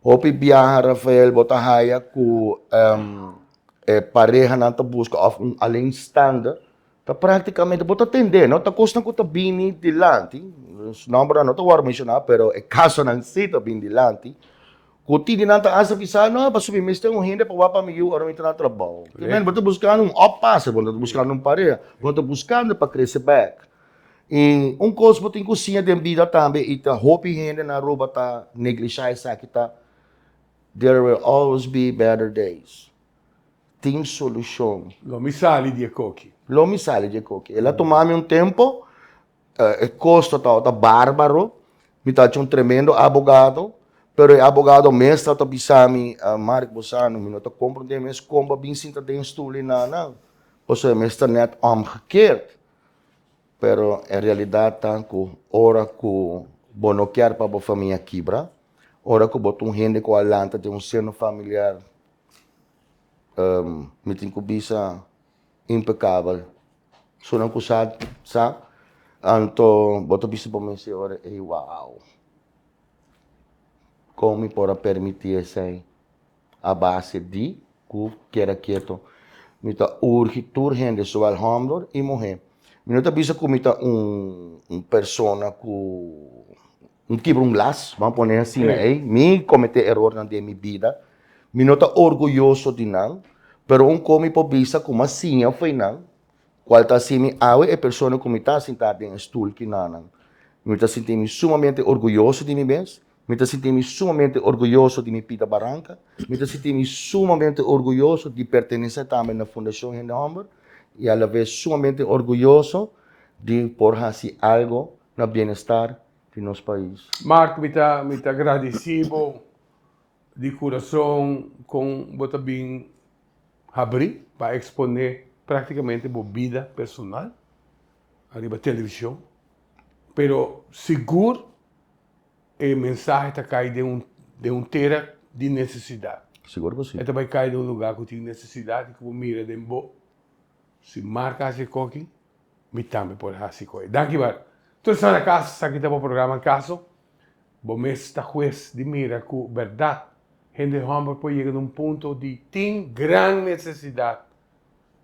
Hopi biaha Rafael bo ta haya ku e parehanan ta buska òf un alleenstaande Ta práktikamente, bo ta tende, no ta kosnan ku ta bini dilanti, su nòmbernan no ta wòrdu menshoná, pero e kasonan sí ta bini dilanti, ku titi nan ta hasta bisa, no, pasobra mi mester un hende pa wak pa mi yu ora mi tra na trabou. Obviamente bo ta buskando un òf pasa, bo no ta buskando un pareha, bo ta buskando pa krese bèk. I un kos bo tin ku siña den bida tambe, i ta hopi hende na Aruba ta neglishá esaki ta, There will always be better days. tin solucion. Lo mi sali di e koki. Lo mi sali di e koki. El a tuma mi un tempo, e kosto tabata barbaro, mi ta haci un tremendo abogado, pero e abogado mes tabata bisa mi, Mark bo sa no, mi no ta comprende mes con bo a bin sinta den e stoel y nanan, pasobra e mes ta net omgekeerd. Pero e realidad ta cu ora cu bo no kier pa bo famia kibra, ora cu bo ta un hende cu a lanta den un seno familiar. mi tin ku bisa impekabel. Sunan ku sa sa, anto bo ta bisa pa mi ese ora ei wow! Kon mi por a permití esei? A base di ku keda ketu. Mi ta urgi tur hende, zowel hòmber i muhé. Mi no ta bisa ku mi ta un persona ku Mi kibra un las, bo a pone asina ei, mi komete erornan den mi bida, mi no ta orguyoso di nan, pero un kos mi por bisa ku mi a siña for nan kual ta hasi mi awe e persona ku mi ta sintá den e stul ki nanan. Mi ta sinti mi sumamente orguyoso di mi mes, mi ta sinti mi sumamente orguyoso di mi Pita Baranka, mi ta sinti mi sumamente orguyoso di pertenesé tambe na Fundashon Hende Hòmber i alavez sumamente orguyoso di por hasi algu na bienestar di nos pais. Mark mi ta mi ta gradisi bo di kurason kon bo ta bin habri pa eksponé praktikamente bo bida personal ariba televishon pero sigur e mensahe ta kai den un den un tera di nesesidat Sigur ku si. e ta bai kai den un lugá ku tin nesesidat i ku bo mira den bo si Mark hasi e koki Mi tambe por hasi koe. Danki Bart. Tur esnan na kas, esaki ta bo programa Kaso. Bo mes ta hues di mira ku bèrdat hende hòmber por yega na un punto di tin gran nesesidat,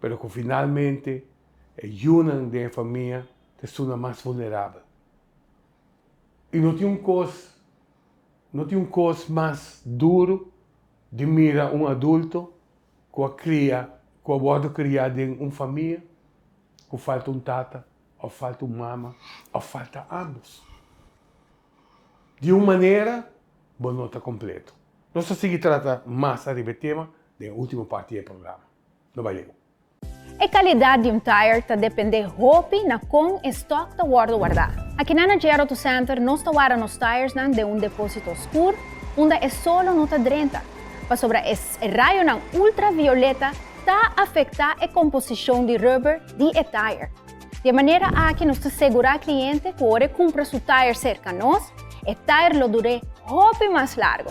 pero ku finalmente e yunan den e famia ta estunan mas vulnerabel. I no tin un kos, no tin un kos mas duru di mira un adulto ku a kria, ku a wòrdu kriá den un famia ku falta un tata òf falta un mama òf falta ámbos. Di un manera bo no ta kompletu. Nos ta sigui trata mas ariba e tema den e último parti di e programa. No bai leu. E kalidat di un tair ta dependé hopi na kon e stòk ta wòrdu wardá. Akinan na Gerauto Center nos ta warda nos tairsnan den un depósito oskur unda e solo no ta drenta. pasobra e rayonan ultravioleta ta afektá e komposishon di rùber di e tayer. Di e manera aki nos ta segurá kliente ku ora e kumpra su tayer serka nos, e tayer lo dur'é hopi mas largu.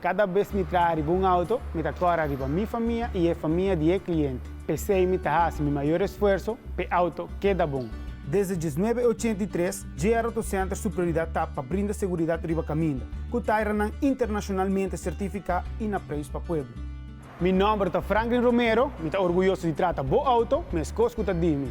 Kada bes mi traha riba un auto, mi ta kora riba mi famia i e famia di e kliente. P'esei mi ta hasi mi mayor esfuerso p'e auto keda bon. Desde dieznuebe ochenta i tres Dje Aeroto Center su prioridat ta pa brinda seguridat riba kaminda, ku ta aeranan internashonalmente sertifiká i na preis pa pueblo. Mi nòmber ta Franklin Romero, mi ta orguyoso di trata bo outo meskos ku ta di mi.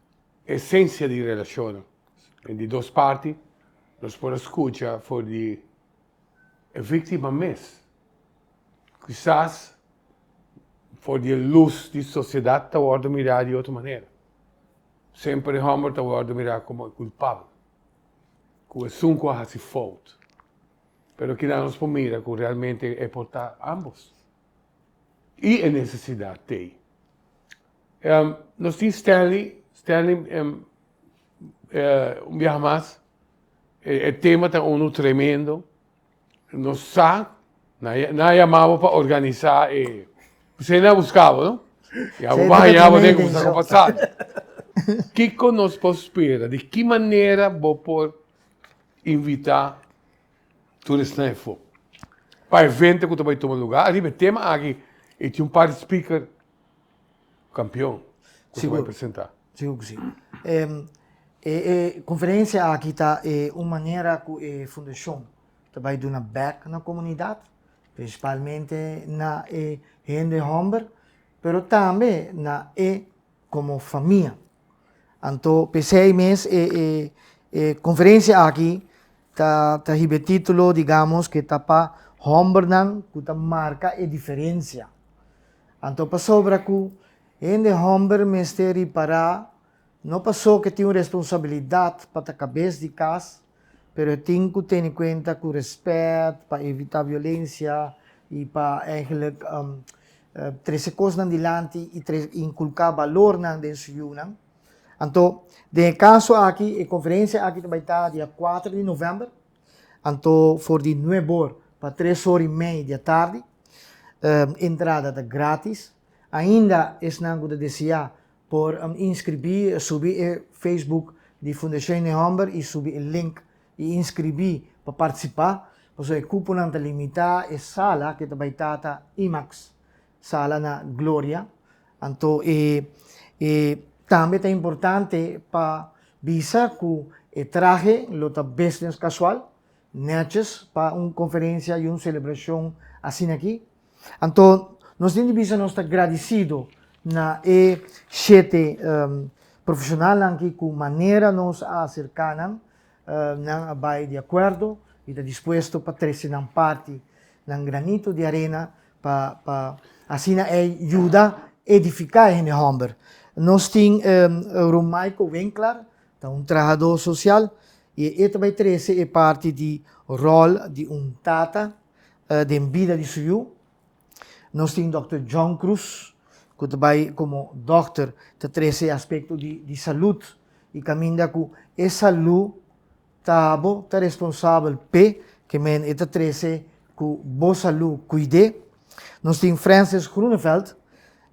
Esensia di relashonnan di dos parti, nos por a skucha for di e víktima mes, kisas for di e lus di sosiedat ta wòrdu mirá di otro manera. Semper e hòmber ta wòrdu mirá komo e kulpabel, ku esun ku a hasi fout. Pero kila nos por mira ku realmente e por ta ámbos. I e nesesidat t'ei. Nos tin Stanley, Stanley un biaha mas, e tema ta unu tremendo, nos sa, nan a yama bo pa organisa e, bisai nan a buska bo no, y abo ban haña bo den como sa cu pasa, kico nos por spera, di ki manera bo por invita turisnan efo pa evento cu ta bay tuma lugar, ariba e tema aki e tin un par di speaker. Kampion ku ta bai presentá. Sigur ku si. E konferensia aki ta e un manera ku e fundashon ta bai duna bèk na komunidat, prinsipalmente na e hende hòmber, pero tambe na e komo famia. Anto p'esei mes e e e konferensia aki ta ta hib'e título digamos ke ta pa hòmbernan ku ta marka e diferensia. Anto pasobra ku hende hòmber mester ripará no pasó ke tin un responsabilidat pa ta kabes di kas, pero e tin ku tene kuenta ku rèspèt pa evitá violensia i pa ègèlek trese kosnan dilanti i inkulká balornan den su yunan. Anto, den e kaso aki, e konferensia aki ta bai ta di a kuater di novèmber, anto for di nuebe or pa tres or i mei di atardi. Entrada ta grátis. Ainda esnan ku ta deseá Por inskribí subi e Facebook di Fundacion den hòmber i subi e link i inskribí pa partisipá pasobra e kuponan ta limitá. E sala ke ta bai ta ta IMAX sala na Gloria anto e e tambe ta importante pa bisa ku e trahe lo ta business kasual, nètjes pa un konferensia i un selebrashon asin'aki. Anto, nos tin di bisa nos ta gradisido na e shete um, profesionalnan ki ku manera nos a aserká nan, uh, nan a bai di akuerdo i ta dispuesto pa trese nan parti, nan granito di arena pa, pa asina ei yuda edifiká e hende hòmber. Nos tin um, Ron Michael Winkler, ta un trahadó sosial i e ta bai trese e parti di ròl di un tata, den bida di su yu. Nos tin Dòkter John Cruz, ku ta bai komo dòkter ta trese e aspekto di di salud i kaminda ku e salú ta bo ta responsabel p'e ke men e ta trese ku bo salú kuid'é. Nos tin Francis Groeneveld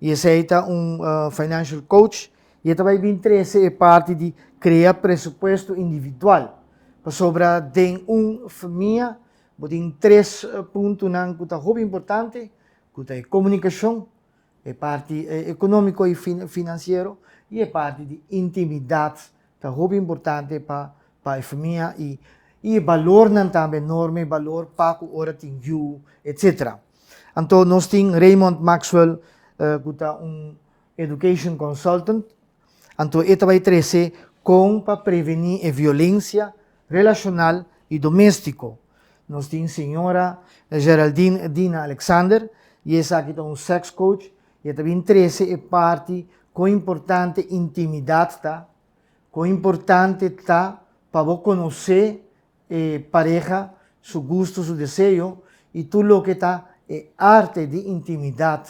i esei ta un financial coach i e ta bai bin trese e parti di krea presupuesto individual pasobra den un famia Bo tin tres puntonan ku ta hopi importante, ku ta e komunikashon, e parti ekonómiko i finansiero i e parti di intimidat ta hopi importante pa pa e famia i e balornan tambe, norma i balor pa ku ora tin yu etsetera. Anto nos tin Raymond Maxwell ku ta un education consultant, Anto e ta bai trece con pa preveni e violencia relacional y domestico. Nos tin Sra. Geraldine Dina Alexander y esaki ta un sex coach y e ta bin trece e parti con importante intimidad ta, con importante ta pa bo conoce e pareha, su gusto, su deseo y tur loke ta e arte di intimidad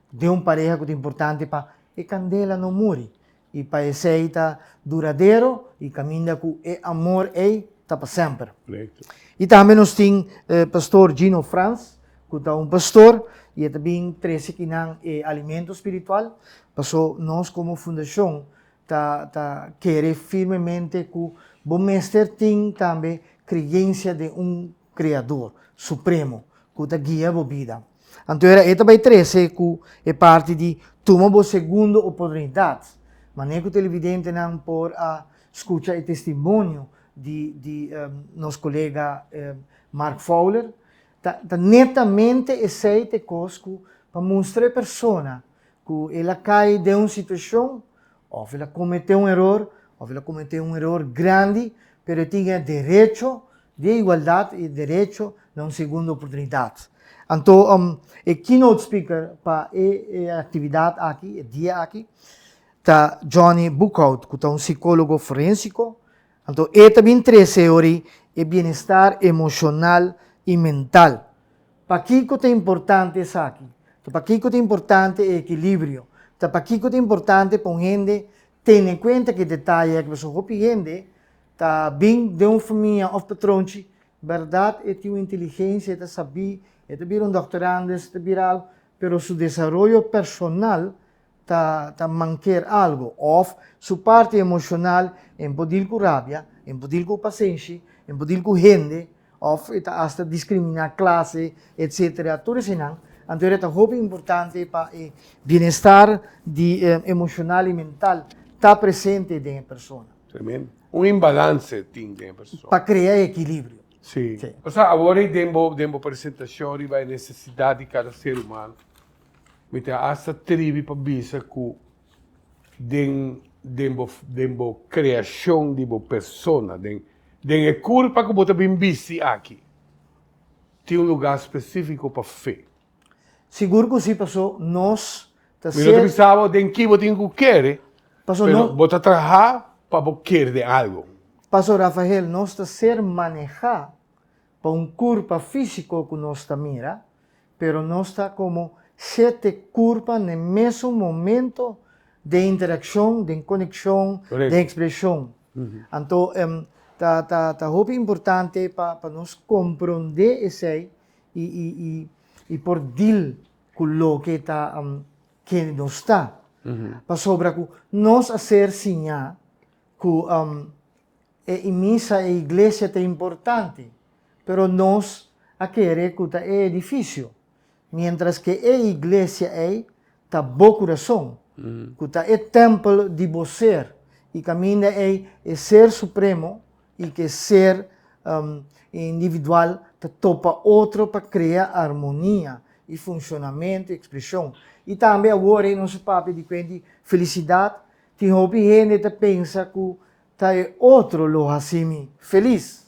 den un pareha cu ta importante pa e candela no muri y pa esey ta duradero y caminda cu e amor ey ta pa semper. Y tambe nos tin Pastor Gino Frans cu ta un pastor y e ta bin trece kinan e alimento spiritual, paso nos como fundacion Ta ta kere firmemente ku bo mester tin tambe kreyensia den un Kreador supremo ku ta guia bo bida. Anto era e ta bai trese ku e parti di Tuma bo segundo oportunidat. Manera ku televidentenan por a skucha e testimonio di di nos kolega Mark Fowler, ta ta netamente esei t'e kos ku pa mustra e persona ku el a kai den un situashon, òf el a kometé un eror, òf el a kometé un eror grandi, pero e tin e derecho di e igualdat i e derecho na un segundo oportunidat. Anto, e keynote speaker pa e aktividat aki, e dia aki, ta Johnny Boekhout, ku ta un sikólogo forénsiko. Anto, e ta bin tresé orí e bienestar emoshonal i mental. Pakiko ta importante esaki? Ta pakiko ta importante e ekilibrio? Ta pakiko ta importante pa un hende tene kuenta ki detaye aki? Pasobra hopi hende ta bin den un famia òf patronchi, bèrdat e tin un inteligensia, e ta sabí, e ta bira un dòkter Andes, e ta bira algu, pero su desaroyo personal ta ta manker algo of su parti emoshonal en por dil ku rabia, en por dil ku pasenshi, en por dil ku hende of e ta hasta diskriminá klase etc. Tur esenan anto e ta hopi importante pa e bienestar di emoshonal i mental ta presente den e persona. Tremendo. Un imbalanse tin den e persona. Pa krea e ekilibrio. Si. Osa awor ei den bo den bo presentashon riba e nesesidat di kada ser humano. Mi ta hasta tribi pa bisa ku den den bo den bo kreashon di bo persona, den den e kurpa ku bo ta bin bisti aki, tin un lugá spesífiko pa fe. Sigur ku sí, pasó nos ta ser. Mi no ta pensaba den ki bo tin ku kere, pero bo ta trahá pa bo kere den algu. Pasó Rafael, nos ta ser manehá pa un kurpa físiko ku nos ta mira, pero nos ta komo sete kurpa n'e mesun momento den interakshon, den konekshon, den ekspreshon. Anto ta hopi importante pa nos komprondé esei i por dil ku loke ta kende nos ta. Pasobra ku nos a ser siñá ku e i misa e iglesia ta importante, pero nos a kere ku ta e edifisio, miéntras ke e iglesia ei ta bo kurason, ku ta e tèmpel di bo ser, i kaminda ei e Ser Supremo i ke Ser individual ta topa otro pa krea armonia i funshonamentu i ekspreshon. I tambe awor ei nos a papia di kuenti felisidat Tin hopi hende ta pensa ku ta e otro lo hasi mi felis.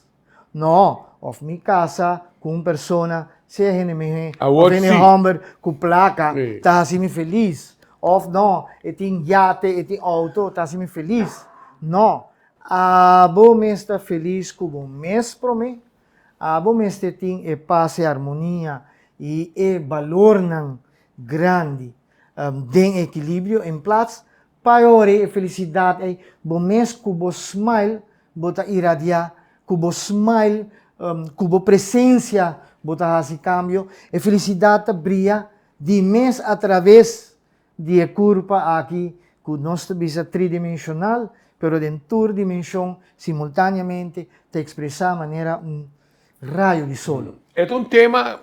No, òf mi kasa ku un persona, sea hende mihé òf hende hòmber ku plaka, ta hasi mi felis. Òf no, e tin yate, e tin outo, ta hasi mi felis. No, abo mes ta felis ku bo mes promé. Abo mester tin e pas, e armonia i e balornan grandi. den ekilibrio en plats pa yore e felisidat ei bo mes ku bo smile bo ta iradiá ku bo smile ku bo presensia bo ta hasi kambio e felisidat ta bria di mes atraves di e kurpa aki ku nos ta bisa tridimensional pero den tur dimenshon simultaneamente ta ekspresá manera un rayo di solo. E ta un tema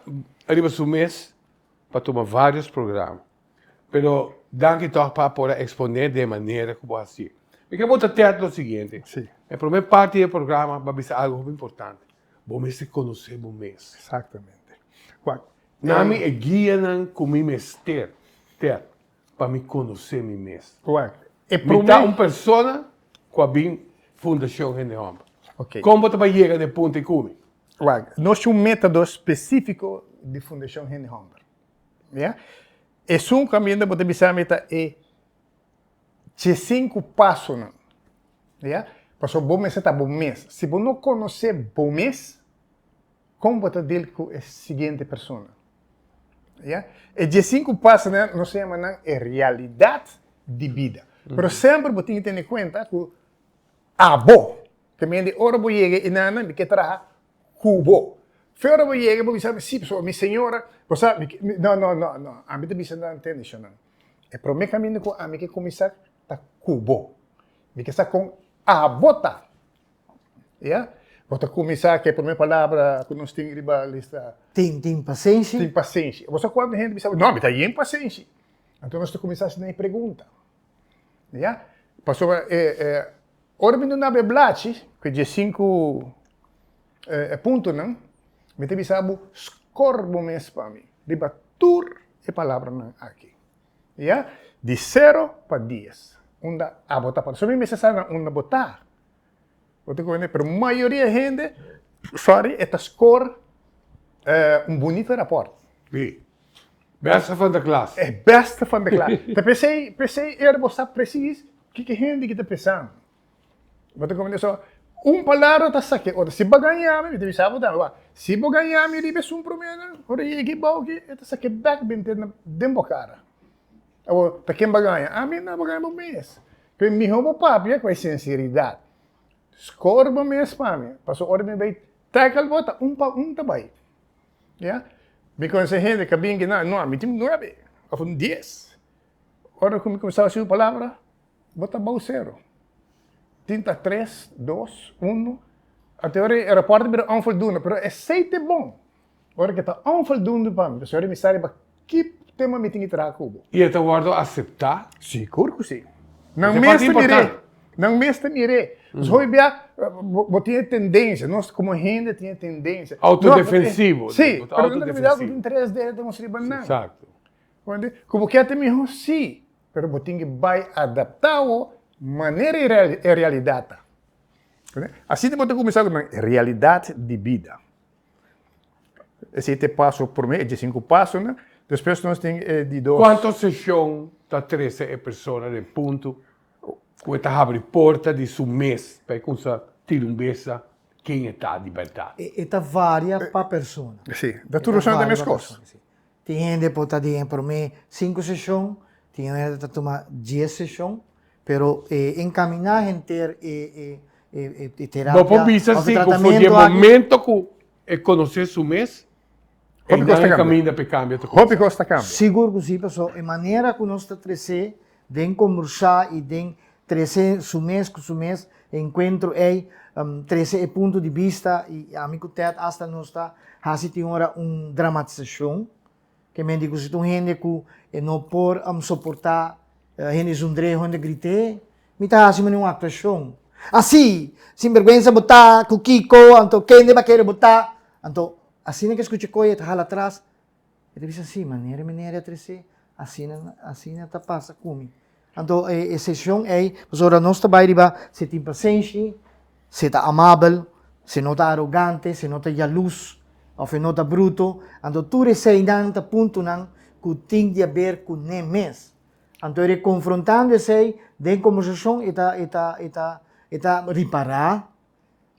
riba su mes. pa tuma varios programa. Pero danki tog pa por a exponé den manera ku bo hasi. Mi ke bo ta tèt lo siguiente, e promé parti di e programa bo a bisa algu hopi importante, bo mester konosé bo mes. Exactamente. Wak. Nan mi e guianan ku mi mester tèt pa mi konosé mi mes. Wak. E promé. Mi ta un persona ku a bin Fundashon Hende Hòmber. Ok. Kon bo ta bai yega na e punto ei ku mi? Wak, nos tin un metodo spesífiko di Fundashon Hende Hòmber. Ya? Esun ku Ambiente bo ta bisa mi ta e dje sinku pasonan, ya? Pasobra bo mester ta bo mes. Si bo no konosé bo mes, kon bo ta dil ku e siguiente persona? Ya? E dje sinku pasonan nos ta yama nan e realidat di bida. Pero semper bo tin tene kuenta ku abo. Te mende ora bo yega e nana mi ke traha ku bo. Fe ora bo yega bo bisa mi si pasobra mi señora bo sa mi ke no no no no ami ta bisa nan tende shonnan e prome kaminda ku ami ke kuminsá ta ku bo mi ke sa kon abo ta ya bo ta kuminsá ke prome palabra ku nos tin riba lista tin tin pasenshi tin pasenshi bo sa kuantu hende bisa no mi ta yen pasenshi anto nos ta kuminsá hasi nan e pregunta ya pasobra e e. Ora mi duna bo e blachi cu e diesinku puntonan, mi ta bisa bo, scor bo mes pa mi riba tur e palabranan aki, ya, di sero pa dies, unda abo ta para. So mi mester sa na unda bo ta. Bo ta comprende? Pero mayoria e hende, sorry, e ta scor un bunito raport. Bèste van de klas. E bèste van de klas. Ta p'esei, p'esei er bo sa presis kiko hende ki ta pensan. Bo ta komende so, un palabra ta sa ke otro. Si bo gaña mi, mi ta bisa bo tambe, wak, si bo gaña mi riba esun promena, ora e yega ebou aki, e ta sa ke bèk benter na den bo kara. Awor, ta ken bo a gaña? Ami? Nò, bo gaña bo mes. P'e mihó bo papia ku e sinseridat. Skor bo mes pa mi, pasobra ora mi bai tèkl bo, ta un pa un ta bai. Ya. Mi conoce hende ca bin kina, no, mi tin nuebe, of un dies. Ora cu mi cuminsa hasi un palabra, bo ta bou cero. Tin ta tres, dos, uno. Ante ora e raport a bira onvoldoende, pero esey ta bon. Ora cu ta onvoldoende pa mi, pasobra mi sa riba Ki tema mi tin di traha ku bo? I e ta wòrdu aseptá? Sigur ku si. Nan mes ta mir'é. Nan mes ta mir'é. Nos hopi bia bo tin e tendensia, nos komo hende tin e tendensia. Autodefensivo. Sí, pero nan ta olbidá ku tin tres dedos riba nan. Comprende? Ku bo kèr ta mihó, sí, pero bo tin ki bai adaptá bo manera e realidat ta. Asina bo ta kuminsá ku nan realidat di bida. Esei ta e paso promé, e diesinku pasonan. Despues nos tin e di dos. Kuantu seshon ta trese e persona den puntu ku e ta habri porta di su mes pa e kumsa tira un besa ken e ta di bèrdat? E ta varia pa persona. Sí. Ta tur persona ta e meskos. Tin hende por ta den e promé sinku seshon, tin hende ta ta tuma dies seshon, pero e enkaminá henter e e e e e terapia òf e tratamento aki. Bo por bisa si ku for di e momento ku e konosé su mes, e nan e kaminda pa e kambia ta kumsa. Hopi kos ta kambia. Sigur ku si, pasó e manera ku nos ta tresé Den kombursá i den tresé su mes ku su mes enkuentro ei, tresé e punto di bista i ami ku Ted asta nos ta hasi tin ora un dramatisashon, ke men di ku si ta un hende ku e no por soportá hende zundreo, hende grit'é, mi ta hasi manera un aktuashon. Así! Sinbergwensa bo ta ku Kiko, anto kende bo a kere bo ta? Anto asina ke skucha koe e ta hala atras E ta bisa, sí, manera e minera a tres'é, asina, asina ta pasa ku mi. Anto e, e seshon ei, pasobra nos ta bai riba si e tin pasenshi, si e ta amabel, si e no ta arogante, si e no ta yalus, òf e no ta bruto. Anto tur eseinan ta puntunan ku tin di haber ku nan mes. Anto e rekonfrontando esei den kombersashon e ta, e ta, e ta, e ta ripará.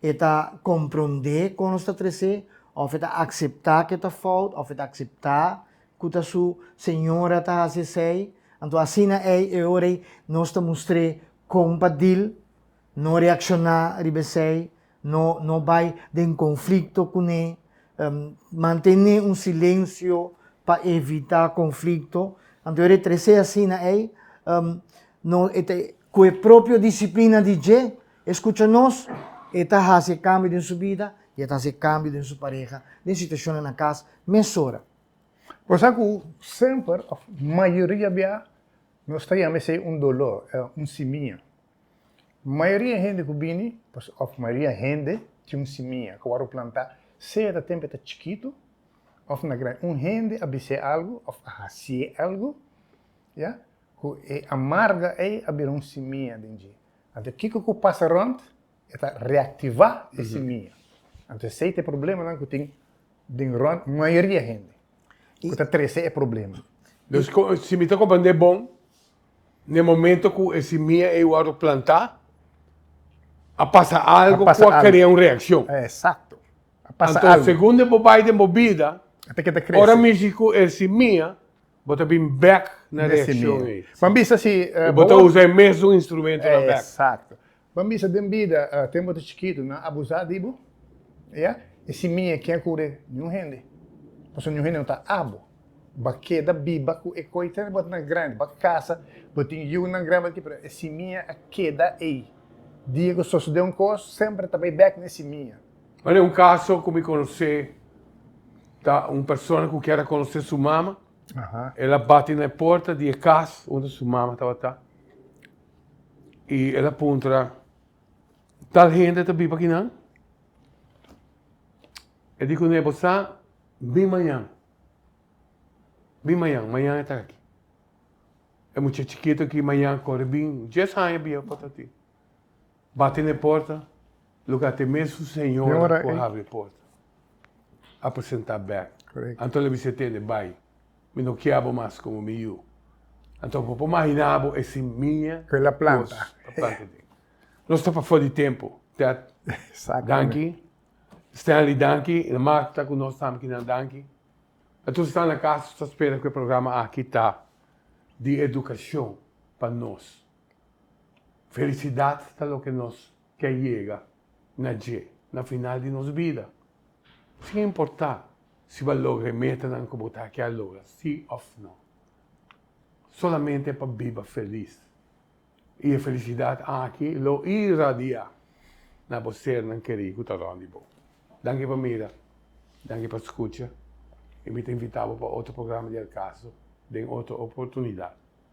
E ta komprondé kon nos ta tres'é, òf e ta akseptá ku e ta fout, òf e ta akseptá ku ta su señora ta hasi esei. Anto asina ei e ora ei nos ta mustr'é kon pa dil, no reakshoná riba esei, no no bai den konflikto kuné, mantené un silensio pa evitá konflikto. Anto e ora e tres'é asina ei, no e ta ku e propio disiplina di dje E skucha nos, e ta hasi e kambio den su bida i e ta hasi e kambio den su pareha, den situashonnan na kas, mesora. Bo sa ku semper, òf mayoria bia, nos ta yama esei un doló, un simia. Mayoria hende ku bini, òf mayoria hende, tin un simia ku a wòrdu plantá, sea ta tempu e ta chikitu òf na grandi. Un hende a bis'é algu òf a hasié algu, ya, ku e amarga ei a bira un simia den dje. Anto kiko ku pasa rònt? E ta reaktivá e simia. Anto esei ta e problemanan ku tin den rònt mayoria hende ku ta trese e problema. Dus si mi ta komprendé bon, na e momento ku e simia ei wòrdu plantá, a pasa algu ku a krea un reakshon. Anto segun bo bai den bo bida, ora mishi ku e simia Bo ta bin bèk na reakshon ei. Bo bisa si. I bo ta usa e mesun instrumentu na bèk. Esakto. Bo bisa den bida, tempu bo ta chikitu, nan a abusá di bo? Ya? I si mi e ke kure niun hende? Pasobra niun hende no ta a bo. Bo a keda biba ku e koi ter bo ta na grandi. Bo a kasa, bo tin yunan grandi, bo ta kibra. E simia a keda ei. Dia ku sosodé un kos, semper ta bai bèk na e simia. M'a den un kaso ku mi konosé, ta un persona ku kier a konosé su mama, el a bati na e porta di e kas unda su mama tabata i el a puntra, Tal hende ta biba aki nan? E di kuné, Bo sa, bin mañan, bin mañan, mañan e ta aki. E mucha chikitu aki mañan kore bin, dies aña biba pa ta tin. Bati n'e porta, luka t'e mes un señora ku a habri e porta, a presentá bèk. Anto el a bisa e tende, Bai, mi no kier bo mas komo mi yu. Anto bo por maginá bo e simiña ku el a planta. Nos ta pafó di tempu, Ted. Danki. Stanley, danki. I na Marta ku nos tambe kinan danki. E tur sa na kas ta spera ku e programa aki ta di edukashon pa nos. Felicidad ta loke nos ke yega na dje na final di nos bida, sin importa si bo a logra e metanan ku bo ta kier logra si òf no. Solamente pa biba felis. I e felicidad aki lo irradiá na bo sernan kerí ku ta rònt di bo. Danki pa mira, danki pa skucha i mi ta invitá bo pa otro programa di El Caso den otro oportunidad.